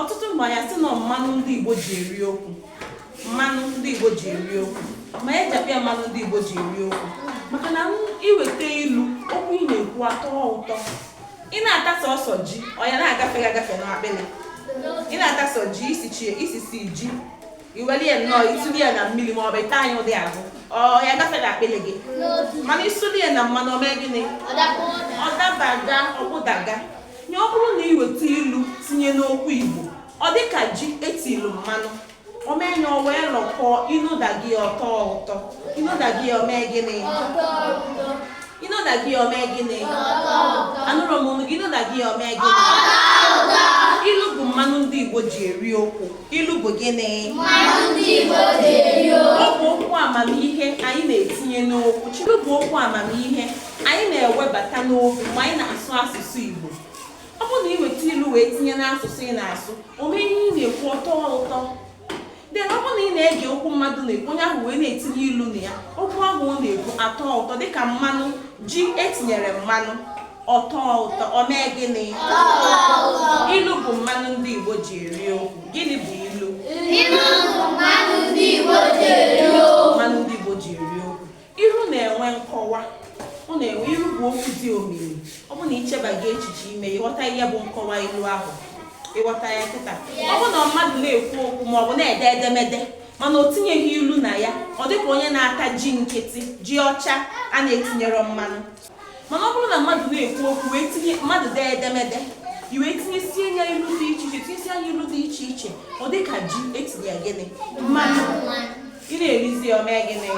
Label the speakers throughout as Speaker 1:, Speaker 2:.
Speaker 1: ọtụtụ mgbe anyị sị na mmanụ ndị Igbo ji eri okwu mmanụ ndị Igbo ji eri okwu ma e ji ya mmanụ ndị Igbo ji eri okwu maka na i weta ilu okwu ị na-ekwu atọ ụtọ ị na-ata sọsọ ji ọ ya na-agafe agafe n'akpịrị ị na-ata sọ ji isi ji i weli ya nnọọ i suli ya na mmiri ma ọ bụ ị taa ya ụdị ahụ ọ ya agafe n'akpịlị gị mana i suli ya na mmanụ o mee gịnị ọ dabaga ọ gbadaga nye ọ bụrụ na ị weta ilu tinye n'okwu igbo ọ dị ka ji e tilu mmanụ o mee ya o wee lọkọọ i nodaga ọ tọọ ụtọ i nodaga o mee gịnị I nodaga o mee gịnị? Anụrọ m onu gị i nodaga o mee gịnị? Ilu bụ mmanụ ndị Igbo ji eri okwu. Ilu bụ gịnị? Mmanụ ndị Igbo
Speaker 2: ji eri okwu. Ọ bụ okwu
Speaker 1: amamihe anyị na-etinye n'okwu. Ilu bụ okwu amamihe anyị na-ewebata n'okwu mgbe anyị na-asụ asụsụ Igbo. Ọ bụrụ na ị weta ilu wee tinye n'asụsụ ị na-asụ, o mee ihe ị na-ekwu ọ tọọ ụtọ. then ọ bụrụ na ị na-ege okwu mmadụ na-ekwu onye ahụ wee na-etinye ilu na ya okwu ahụ ọ na-ekwu atọ ụtọ dịka mmanụ ji e tinyere mmanụ ọ tọọ ụtọ o mee gịnị ilu bụ mmanụ ndị Igbo ji eri okwu gịnị bụ
Speaker 2: ilu mmanụ ndị Igbo ji eri
Speaker 1: okwu Ilu na-enwe nkọwa. Ọ na-enwe ilu bụ okwu dị omimi. Ọ bụ na i chebaga echiche ime ị ghọta ihe bụ nkọwa ilu ahụ ị ghọta ya kịta ọ bụ na mmadụ na-ekwu okwu ma ọ bụ na-ede edemede mana o tinyeghị ilu na ya ọ dịka onye na-ata ji nkịtị ji ọcha a na-etinyerọ mmanụ mana ọ bụrụ na mmadụ na-ekwu okwu wee tinye mmadụ dee edemede i wee tinyesie ya ilu dị iche iche tinyesie ya ilu dị iche iche ọ dị ka ji e tinye ya gịnị mmanụ ị na-erizi ya o mee gịnị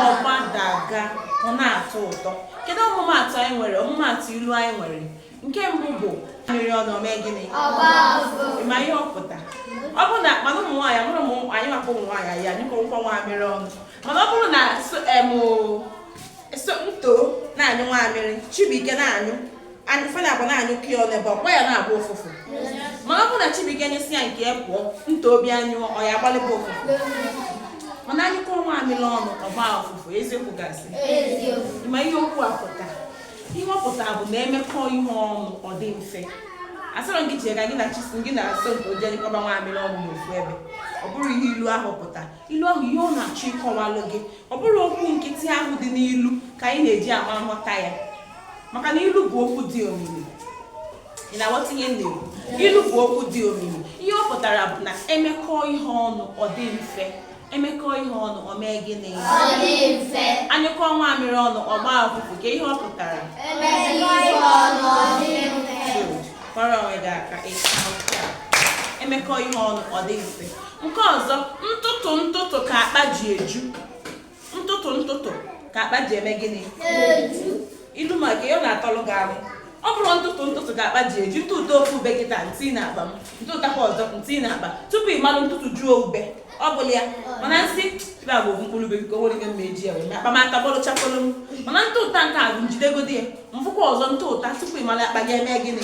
Speaker 1: ọ gbadaga ọ na-atọ ụtọ kedu ọmụmaatụ anyị nwere ọmụmaatụ ilu anyị nwere nke mbụ bụ nwaamịrị ọnụ o mee gịnị ma ihe ọ pụta ọ bụrụ na mana ụmụ nwaanyị amarọ m anyị maka ụmụ nwaanyị anyị anyụkọrọkwa nwaamịrị ọnụ mana ọ bụrụ na em somto na-anyụ nwaamịrị chibuike na-anyụ fa naabọ na-anyụkọ ofu ebe ọ kwa ya na-agba ụfụfụ ma ọ bụrụ na chibuike nyụsịa nke ya pụọ somto bịa nyụọ ọ ya agbalịba ụfụfụ mana a nyụkọọ nwaamịrị ọnụ ọ gbaa ụfụfụ eziokwu ka asị ma ihe okwu a pụta ihe ọ pụtara bụ na e mekọọ ihe ọnụ ọ dị mfe asịrọ gị jee ka gị na chisi gị na-asọ nke o jee nyụkọba nwaamịrị ọnụ n'ofu ebe ọ bụrọ ihe ilu ahụ pụta ilu ahụ ihe ọ na-achọ ịkọwalụ gị ọ bụrọ okwu nkịtị ahụ dị n'ilu ka anyị na-eji ama nghọta ya maka na ilu bụ okwu dị omimi ị na-aghọta ihe na ilu bụ okwu dị omimi ihe ọ pụtara bụ na emekọọ ihe ọnụ ọ dị mfe emekọ ihe ọnụ o mee
Speaker 2: gịnị anyụkọ nwamịrị
Speaker 1: ọnụ ọ gbaa ụfụfụ ka ihe ọ
Speaker 2: pụtara kụọrọ onwe
Speaker 1: gị aka emekọ ihe ọnụ ọ dị mfe nke ọzọ ntụtụ ntụtụ ka akpa ji eju ntụtụ ntụtụ ka akpa ji eme
Speaker 2: gịnị ilu maka
Speaker 1: ya ọ na-atọlụ gị ahụ ọ bụrụ ntụtụ ntụtụ ka akpa ji eju m tụta ofu ube kịta m tie na akpa m m tụtakwa ọzọ m tie na akpa tupu ị malụ m tụtụjuo ube ọ bụrọ ya mana m sị ebe ọ bụ ofu mkpụrụ ube biko nwere ike mma eji ya wee mee akpa m aka bọlụ chakpọlụ m mana m tụta nke a bụ m jidegodi ya m fụkwa ọzọ m tụta tupu ị malụ akpa gị eme gịnị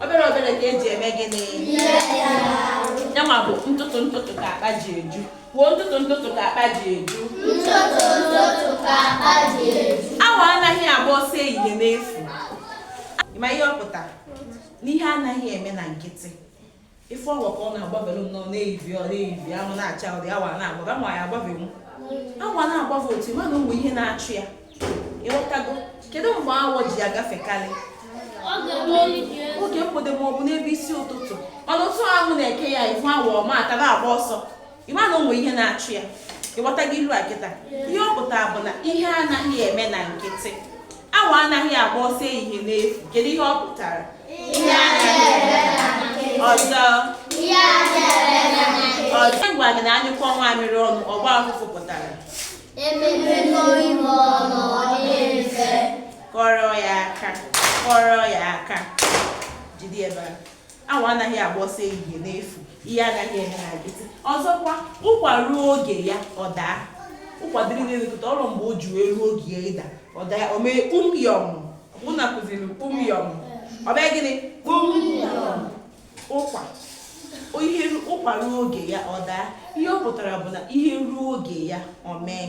Speaker 1: obere obere ka eji eme gịnị yanwa bụ ntụtụ ntụtụ ka akpa ji eju kwuo ntụtụ ntụtụ ka akpa ji eju Ntụtụ ntụtụ
Speaker 2: ka akpa ji eju. awọ anaghị
Speaker 1: agba ọsọ ehihie n'efu ma ihe ọ pụtara n'ihe anaghị eme na nkịtị ị fụ awọ ka ọ na-agbavelu nnọọ n'ehihie ọ n'ehihie anwụ na-acha ụdị awọ na-agbaga ma ya agbavenwu awọ na-agbava ọsọ mana o nwe ihe na-achụ ya ịghọtago kedu mgbe awọ ji agafekarị oge mgbede ma ọ bụ n'ebe isi ụtụtụ mana otu anwụ na-eke ya ị hụ awọ ọma ka ọ na-agba ọsọ ị ma na o nwere ihe na-achụ ya ịghọtago ilu a kịta ihe ọ pụtara bụ na ihe anaghị eme na nkịtị awọ anaghị agba ọsọ ehihie n'efu kedu ihe ọ pụtara ọzọ ọzọ ngwa gị na anyụkọ nwamịrị ọnụ ọ gbaa ụfụfụ pụtara kụọrọ ya aka kụọrọ ya aka jide ebe a awọ anaghị agba ọsọ ehihie n'efu ihe anaghị eme na nkịtị ọzọkwa ụkwa ruo oge ya ọ daa ụkwa dịrị n'elu kata o ruo mgbe o ji wee ruo oge ya ịda ọ daa o mee kpumyọm mụ na kụziri kpumyọm o mee gịnị kpumyọm ụkwa ihe ụkwa ruo oge ya ọ daa ihe ọ pụtara bụ na ihe ruo oge ya o mee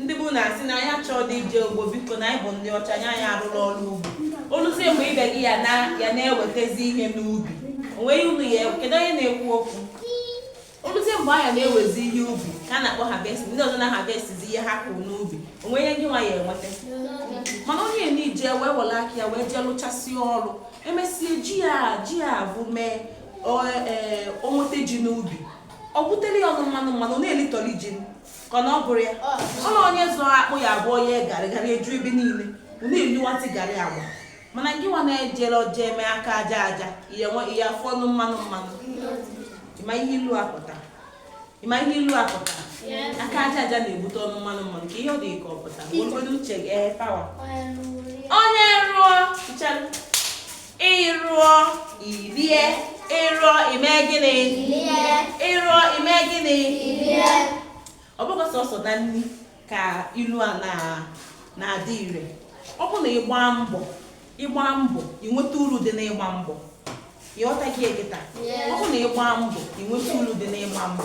Speaker 1: ndị bụ na asị na anyị achọrọ dị ije ugbo biko na anyị bụ ndị ọcha anyị anyị arụrụ ọrụ ugbo o luzie mgbe ibe gị ya na ya na-ewetazi ihe n'ubi o nweghị unu ya kedu onye na-ekwu okwu o luzie mgbe a ya na-ewezi ihe ubi ka a na-akpọ harvest ndị ọzọ na-harvestizi ihe ha kụrụ n'ubi o nwe ihe gị nwa ya enweta mana onye na-ije wee were aka ya wee jee lụchasịa ọrụ emesịa ji ya ji ya avụ mee o nweta ji n'ubi o butere ya ọnụ mmanụ mmanụ na-elitọli ji ka na ọ bụrọ ya ọ na onye zụọ akpụ ya abụọ onye garị garị eju ebe niile unu eliwatị garị agwa mana gị nwa na-ejerọ jee mee aka aja aja ihe nwe ihe afụ ọnụ mmanụ mmanụ ị ma ihe ilu a pụta ị ma ihe ilu a pụta aka aja aja na-ebute ọnụ mmanụ mmanụ ka ihe ọ dị ka ọ pụta mgbe uche gị ee pawa onye rụọ nchara ị rụọ i rie ị rụọ i mee gịnị ị rụọ i mee gịnị ọ bụghị sọsọ na nri ka ilu a na-adị ire ọ bụ na ị gbaa mbọ ị gbaa mbọ i nweta uru dị n'ịgba mbọ ị ghọtago ya kịta ọ bụ na ị gbaa mbọ i nweta uru dị n'ịgba mbọ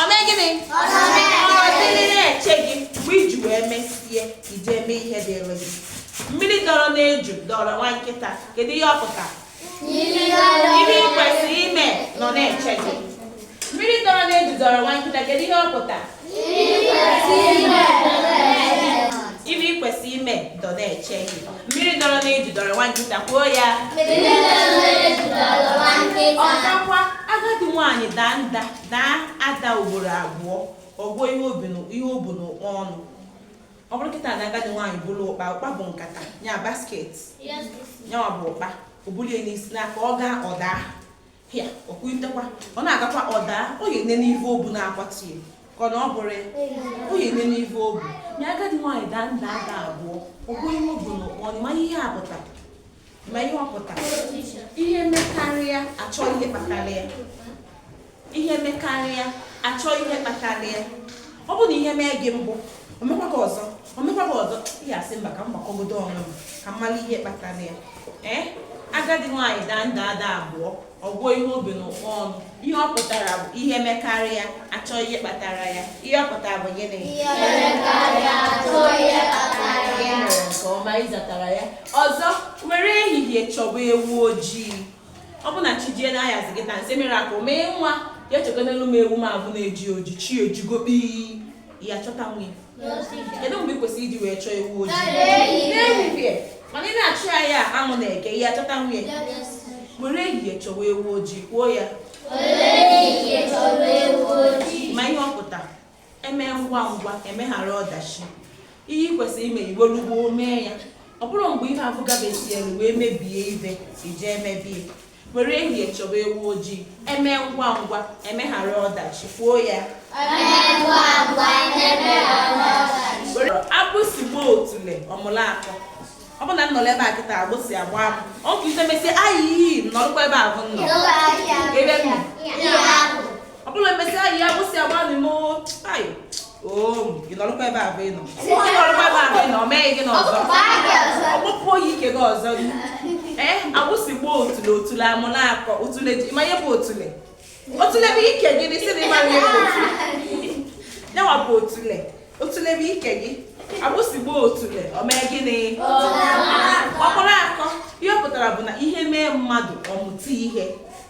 Speaker 1: ọ mee gịnị ọ dịrị na-eche gị mgbe i ji wee mesịa i jee mee ihe dịịrị gị mmiri dọrọ n'eju dọrọ nwa nkịta kedu ihe ọ pụtara ihe ị kwesịrị ime nọ na-eche gị mmiri dọrọ n'eju dọrọ nwa nkịta kedu ihe ọ pụtara ihe ị kwesịrị ime dọ na-eche gị Mmiri dọrọ n'eju dọrọ nwa nkịta kwuo ya. Ọzọkwa, agadi nwaanyị daa nda daa ada ugboro abụọ ọ gụọ ihe o bu n'ụkpa ọnụ. Ọ bụrụ kịta na agadi nwaanyị buru ụkpa ụkpa bụ nkata ya basket ya nwa bụ ụkpa o bulie n'isi na-aga ọ gaa ọ daa pịa o kunitekwa ọ na-agakwa ọ daa ọ ga-ene n'ive o bu na-akwatu ya ka ọ na ọ bụrọ ya ọ ga-ene n'ive o bu nya agadi nwaanyị daa nda ada abụọ ọ gụọ ihe o bu n'ụkpa ọnụ ma ihe a pụta ma ihe ọ pụta ihe mekarịa a chọọ ihe kpatara ya ihe mekarịa a chọọ ihe kpatara ya ọ bụ na ihe mee gị mbụ o mekwa gị ọzọ o mekwa gị ọzọ ị ya-asị mba ka m gbakọgodo onwe m ka m mara ihe kpatara ya ee agadi nwaanyị daa nda ada abụọ ọ gụọ ihe o bu n'ụkpa ọnụ ihe ọ pụtara bụ ihe mekarịa a chọọ ihe kpatara ya ihe ọ pụtara bụ gịnị ihe
Speaker 2: mekarịa a chọọ ihe kpatara ya nke ọma ị
Speaker 1: zatara ya ọzọ were ehihie chọba ewu ojii ọ bụ na chi jie n'anyasị gị na nse mere aka mee nwa ya chọkwanụlụ m ewu m afụ na-eji oji chi ejigo kpii ya-achọtanwu ya kedu mgbe ị kwesịrị iji wee chọọ ewu ojii n'ehihie mana ị na-achọ ya anwụ na-eke ị ya-achọtanwu ya were ehihie chọwa ewu ojii kwuo ya ma ihe ọ pụta eme ngwa ngwa emeghara ọdachi ihe ị kwesịrị ime i welu gboo mee ya ọ bụrọ mgbe ihe afụ gafesielu wee mebie i wee jee mebe ya were ehihie chọba ewu ojii eme ngwa ngwa emeghara ọdachi kwuo ya agbụsị gbaa otule ọ mụlụ akọ ọ bụ na m nọrọ ebe a kịta agbụsị agba m ọ bụ ite mesie ayi iyi nọdụkwa ebe ahụ m nọ ebe m nọ. ọ bụla e mesịa ayiyi agbụsị agbaala m ị nọrọkwa ebe ahụ ị nọ ị nọrọkwa ebe ahụ ị nọ o meghị gị n'ọzọ ọ gbapuo gị ike gị ọzọ ee agbụsị gbaa otule otule amụrụ akọ otule ị ma ihe bụ otule otule bụ ike gị dị sị na ị mara ihe bụ otule nyanwa bụ otule otule bụ ike gị agbụsị gbaa otule o mee gịnị ọ kpụrụ akọ ihe ọ pụtara bụ na ihe mee mmadụ ọ mụta ihe